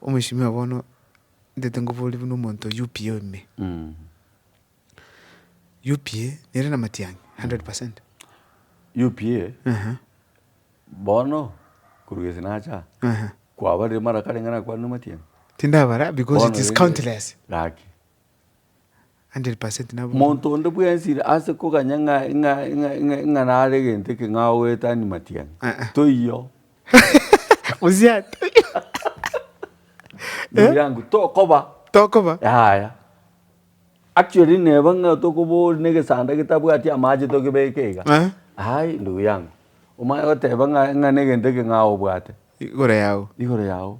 Omweshimiwa bono ntete ngoborie buna omonto oyio UPA oime. UPA nere na Matiang'i 100%. UPA bono korwa gese nacha kwabarire mara karenge nakwanire Matiang'i? Tindabara because it is countless. Gaki. Monto onde bwensi ase koganya ng'a nare egento eke ng'a ogoetania matiang'a, toiyo. Ndugu yangu, tokoba. Tokoba. Yaya. Actually neba ng'a tokobori na egesanda getabwati amache togebeke iga. Aye ndugu yangu, omanye goteba ng'a na egento eke ng'a obwate. Igoro yao. Igoro yao.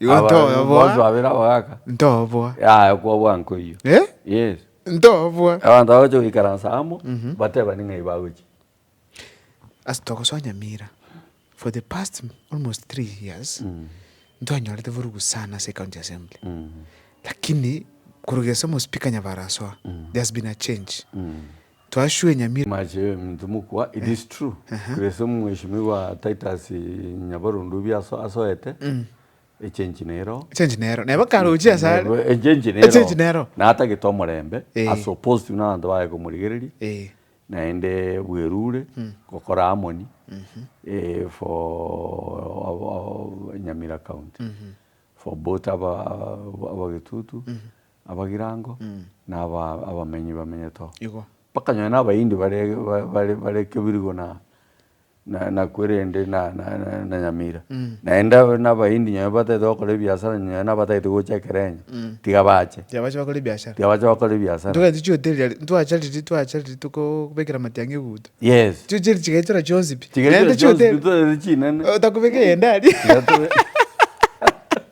Igo Aba- bonsi ntoboa. babere abagaka Ntoboa. yaya kwobua nkoyio Eh? yes Ntoboa. abanto bagocha goikaransa amo batebani ng'ai bagochia Ase togosoa Nyamira, for the past almost three years, ntwanyorete vurugu sana ase ecounty assembly. Lakini, koruga ase omospika Nyabarasoa, there has been a change. Twashwenyamire. Mache minto mokwa it is true grace mweshimiwa Titus nyabarondu bi asoete echange nero Echange nero neba karoche asare echange nero Echange nero. natagete omorembe ase opositive nabanto baye komorigereria naende bwerure gokora harmony for nyamira county for both abagetutu Abagirango na aba abamenyi bamenyete oo. Igo. Bakanyora n'Abayindi bare bare bare Kebirigo na na nakwo erende na na na Nyamira. Naende aba n'Abayindi nyonya batagete gokora ebiasara nyonya nabatagete gocha Ekerenyo. Tiga bache. Tiga bache bakore ebiasara. Tiga bache bakore ebiasara. Ntogete chihoteli aria ntwacha riria twacha riria tokoo bekera matiang'i eguto. Yes. Chio chiri chigaichora chionsi pi. Chigaichora chionsi pi ntogete chinene. Otakobeka eyende aria. Tiga tobe.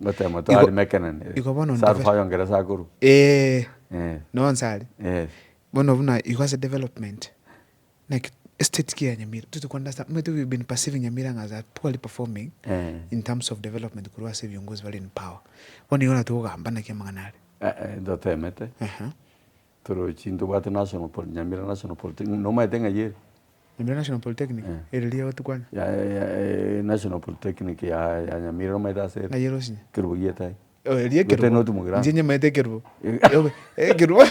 Gotema to Igo- ari mekenanire. igo bono Sa ndeve- rufaya ongeresa akorwa. Eeh, Eh, no nsare. eh. Bono buna igo ase development, naki estate ki ya Nyamira, toti ko understand, omanyete we've been perceiving Nyamira ng'a as a poorly performing Eh. in terms of development korwa ase ebiongozi bare in power. Bono igo natogogamba naki amang'ana are. Eh, eh, ntotemete. Ehe. Torochi ntobwate National Poly, Nyamira National Polytechnic, nomaete ng'ai ere? Nyamira National Polytechnic, Eh. ere riria gotikwana. Ya, ya, ya, eh, National Polytechnic ya, ya Nyamira nomaete ase ere? Ng'ai ere osinye? Kerubo gietae. Oh, eria Gotari ekerubo. noti mogirango. Inche nyamaete ekerubo. Eh. Yobe, ekerubo.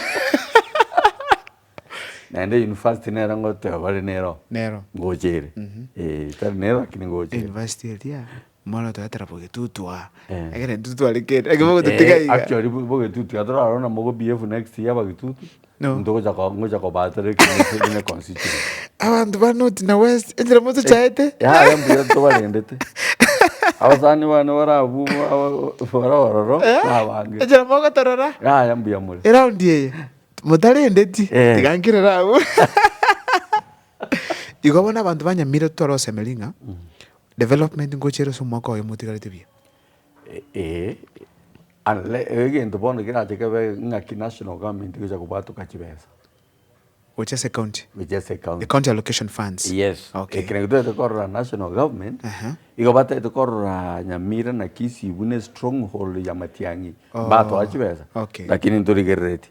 Naende university nere ngoteba bare nero. Nero. Ngocha ere. Eh, tari nero lakini ngocha ere. University eria. Moro toetera bogetutu aa. Eh. Ekero etutu arekeri. Ekero mogototiga iga. Actually bo- bogetutu iga torarora na mogo BF next year abagetutu. No. Ntogocha ko- ngocha kobatera ekenyoro kegine constituency. Abanto ba north na west enchera motochaete. Yaya mbuya tobarendete. Abasani bane bare abwo aba- bare ororo na abange. Enchera mogotorora. Yaya mbuya more. Eround eye. Motarendeti. Eh. Tiga nkerere abwo. Igo bono abanto ba Nyamira totware gosemeria ng'a Development ngochera ase omwaka oyo motigarete buya? Ee, egento bono kerache kebe ng'aki national government egocha kobwatoka chibesa. Gochia ase ecounty? Gochia ase ecounty. Ecounty allocation funds? Yes. Okay. Ekero getagete korora national government, Aha. igo batagete korora Nyamira na Kisii buna estronghold ya Matiang'i, Oh. mbatoa chibesa, Okay. lakini ntorigereretie.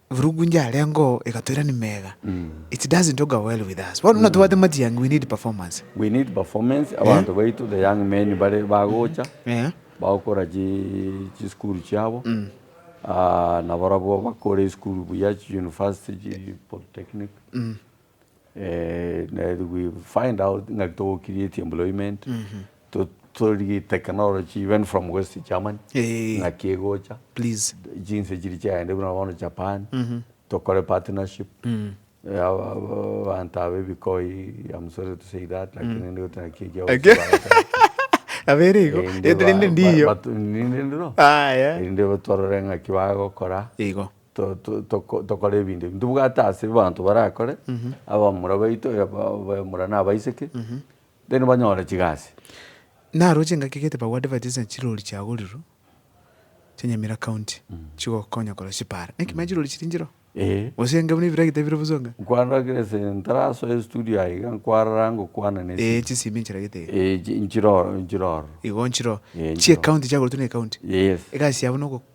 Eburugunja yarengeo egatoirani mega it doesn't auger well with us. Bono buna tobwate matiangi we need performance. We need performance, abanto baito the young men bare bagocha Eeh. bagokora chi chisukuru chiabo nabo barabwo bakore esukuru buya chi university chi polytechnic we find out ng'a togo create employment to torigite technology even from west Germany Eeh. ng'aki egocha Please. chinse chiria chiaenda buna bono Japan tokore partnership abanto aba ebikoi I'm sorry to say that lakini nigo naki ekiagokigwa Ake- goteeba. Nabo ere igo, Eeh, rende rinde ndiyo. but- but- ninde ndiro Aya. erinde twarore ng'aki bagokora. Igo. tokore ebinto ebi, ntobwate ase abanto barakore, abamura baito, abamura na abaiseke, then banyore chigasi. Naroche engaki egete Pagu Advertise na chirori chiagorirwe chia Nyamira County chigokonya korora chipara. Naki manya chirori chiri nchiroo? Eeh. Gose enga buna ebiragita bire bosoo enga? Nkwarora kera ase ntarasoe estudio aye iga nkwarora ngokwana na esimi. Eeh chisimi nchiragete iga. Eeh nchiroro nchiroro. Igo nchiroo. Eeh nchiroo. Chia ecounty chiagoretwe na ecounty. Yes. Egasi yabo nogo.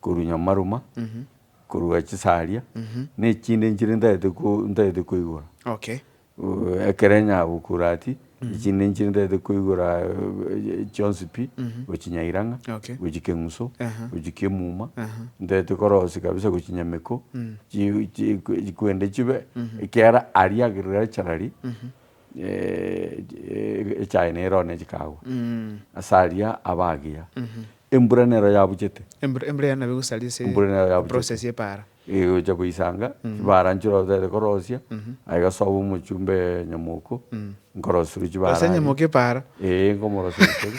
korwa Nyamaruma, korwa Chisaria, na echinde nchire ntagete ko- ntagete koigora. Okay. Uh, Ekereny'a Bukurati, echinde nchire ntagete koigora eh, chionsi pi, gochia Nyairang'a, Okay. gochia Keng'uso, Aha. gochia Kiemuma, Aha. ntagete korosia kabisa gochia Nyameko, chi- chi- kwende chibe ekiagera aria agriculturally, echaye nero one chikaagwa ase aria abagiya. Embura nero yabuchete. Embura embura eye nabo egosaria ase Embura nero yabuchete. eprocess y'epaara. Egocha goisanga chibaara nchire otagete korosia, aye gasoa omochumbe nyamoko, nkorosirwe chibaara Rosia aria. nyamoko epaara. Eeh nkomorosia goseri,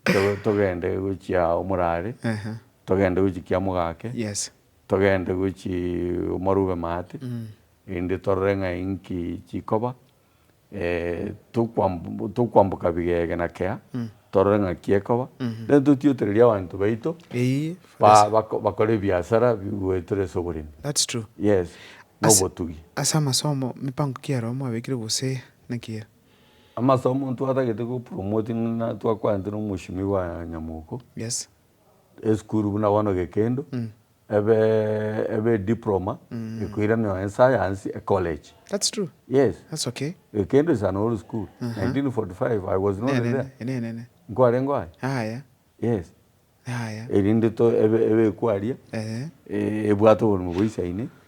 to- togende gochia omorare, togende gochia kia mogake, Yes. togende gochia omarube maate, Rende torore ng'a inki chikoba tokwamboka bigege na kea, torore ng'aki ekoba, rende totiotererie abanto baito bakore ebiasara bigwetire ase oboremi. Yes, na obotugi. Ase amasomo, mipango ki aroro mwabekire gose naki ere? Amasomo ntwatagete gopromotinana twakwanete na omwoshimi bwa Nyamoko, esukuru buna bono Gekendo. Ebe ebe diploma ekoiranewa en science e college. That's true. Yes. That's okay. Ekende is an old school. Uh -huh. 1945 I was not enene, there. Enene. Nkware ngo aye. Aya. Yes. Aya. Erinde to ebe ebe kwaria. Eh. Ebwate oburume boisaine.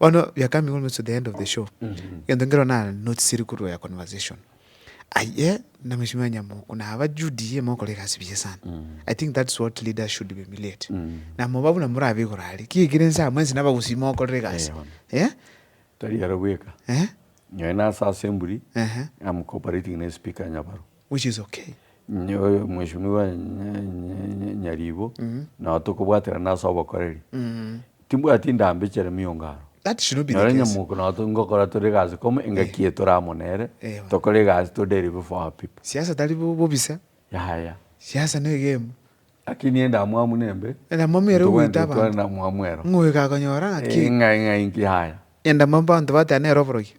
Bono we are coming almost to the end of the show. Egento nkero na notisiri korwa ya conversation. Aye na Mheshimiwa Nyamoku na aba Judy mokora egasi buya sana. I think that's what leaders should be emulate. Na moba buna morabe igoro aria. Ki ekere nsa mwensi naba gusii mokorera egasi. Eh, bono. Eh? Tari aro bweka. Eh? Nyaye nase asemburi, Ehe. I'm cooperating ne speaker Nyabaru. which is okay. Mweshimiwa Nyaribo, nao tokobwaterana ase obokoreri, timbwati ndambechere miungano. That should not be the case. Nonye nyamoko nao tongokora tore egasi kome, engaki eye tore amo nere, tokore egasi to deliver for our people. Siasa tari bobisa. Yaya. Siasa ne egame. Lakini endamwamu nembe, Endamwamu ere ogoita ntogwenerete twane abanto. namwamu ero. Ng'o oyo gakonyora ng'aki Ee, ng'ai ng'ai inki yaya? endamwamu abanto bateba nere oborokia?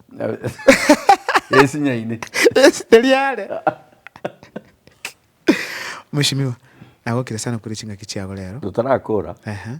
Yesi nyaine. Yesi teri are. Mweshimiwa, nagokire sana kore ching'aki chiabo rero. Totarakora. Ehe.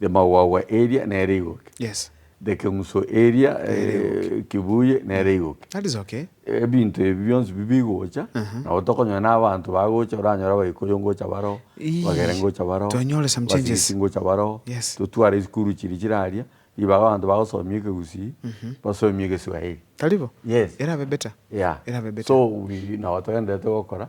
Rimagwagwa eria nere igoke. Yes. Ekeng'uso eria kibuye nere igoke. That is okay. Ebinto ebi bionsi bi bigocha nabo tokonyora na abanto bagocha oranyore abaikuyu ngocha baroo, abagere ngocha baroo, Tonyore some changes. abasibisi ngocha baroo, Yes. totware esukuru chiria chire aria, ribaga abanto bagosomia ekegusii, basomie egeswahili. Tari bo? Yes. Erabe better. Yeah. Erabe better. So we nabo togendererete gokora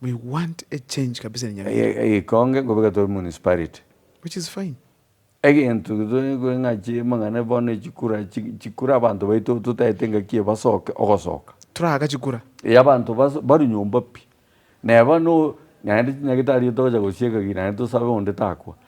We want a change kabisa na Nyabira. Egekonge nkobeka tore municipality. Which is fine. Egento tore kore ng'a chire mang'ana bono echikura chikure abanto baito totaete ngaki ebasoke ogosoka. Toraaka chikura. Ee abanto barwe nyomba pi. Neba no naende chinyagete aria togocha gosieka ki naende tosabe onde takwa.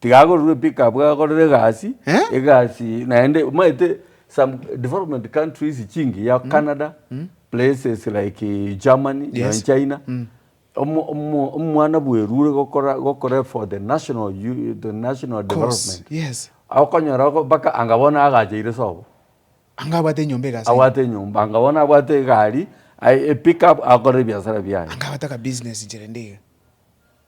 Tiga agorerwe pickup agorere egasi, Eh? egasi naende omanyete some development countries chingiya Canada, places like Germany, Yes. nonye China. Omo- omo- Omwana bwerure gokora gokora for the national u- the national Course, development. yes. Okonyora go- mpaka anga bono agacheire sobo. Anga abwate enyomba egasi. Abwate enyomba, anga bono abwate egari, ai- epickup akore ebiasara biaye. Anga abwate akabusiness incherende iga.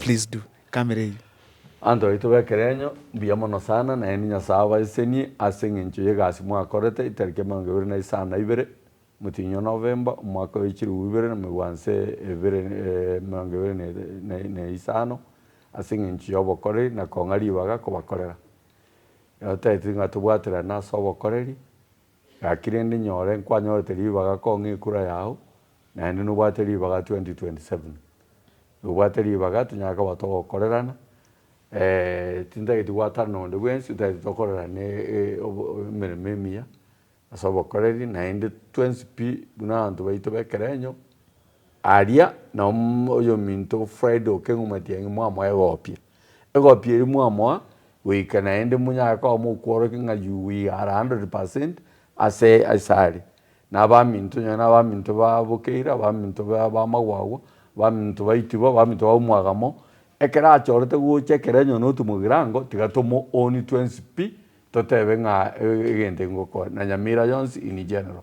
Please do. Camera eyio. Abanto baito b'ekerenyo, mbuya mono sana, naende Nyasae abaesenie ase engencho y'egasi mwakorete etariki emerongo ebere na isano na ibere motinywa Novemba, omwaka oye chilifu ibere na megwanse ebere emerongo ebere na na isano, ase engencho y'obokoreri na kong'a ribaga kobakorera. Ekero taeteti ng'a tobwaterane ase obokoreri. Gaki rende nyore nkwanyorete ribaga kong'e ekura yao, naende nobwate ribaga 2027. Nobwate ribaga tonyare koba togokorerana, tintageti gwatana nonde bwensi, totageti tokorerane emeremo emiya ase obokoreri, naende twensi pi buna abanto baito b'ekerenyo. Aria nao oyominto Friday okeng'umatia ng'a mwamoa egopia. Egopia eria mwamoa goika naende monyare koba mokworokia ng'a you we are 100% ase asare. Na abaminto nonya na abaminto ba bokeire, abaminto ba magwagwa, abaminto baitigwa, abaminto ba omwagamo, ekero achorete gocha ekero onye notomogira ango, tiga tomo own twensi pi, totebe ng'a egento ngokora, na nyamira yonsi in general.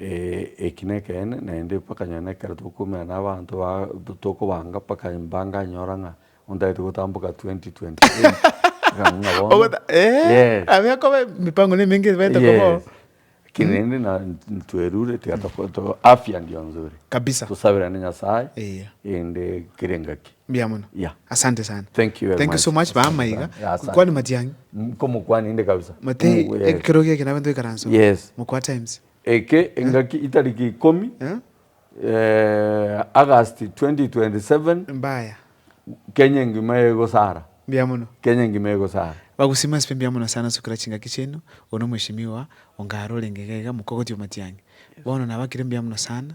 Ee, eki nekeene, naende mpaka nyoo nekero tokokumera na abanto ba tokobanga mpaka mbanganyora ng'a ontagete gotamboka 2028 ng'a ng'a bono Ogota- Eh, Yes. abe akoba emipango ne emenge ebaete koba oo. Yes. Lakini rende na twerure tiga toko- to- afya ndio nzuri kabisa tosaberane nyasaye Eya. ende kere engaki Mbuya mono. Yeah. Asante sana. Thank you very Thank you so much. much baama Asante iga. sana. Yeah, asante. Kwani matiang'i. Mm, Komokwana inde kabisa. Matei Mm, yes. ekeroge eke nabe ntoikaransa. Yes. Mokwa times. Eke engaki itariki ikomi Eh? eh, August 2027 Mbaya. Kenya engima egosara. Mbuya mono. Kenya engima egosara. Bagusima aspe mbuya mono sana sukira chingaki chiaino. Ono mheshimiwa ongaro orenge iga iga mokogotio matiang'i. Bono nabakire mbuya mono sana.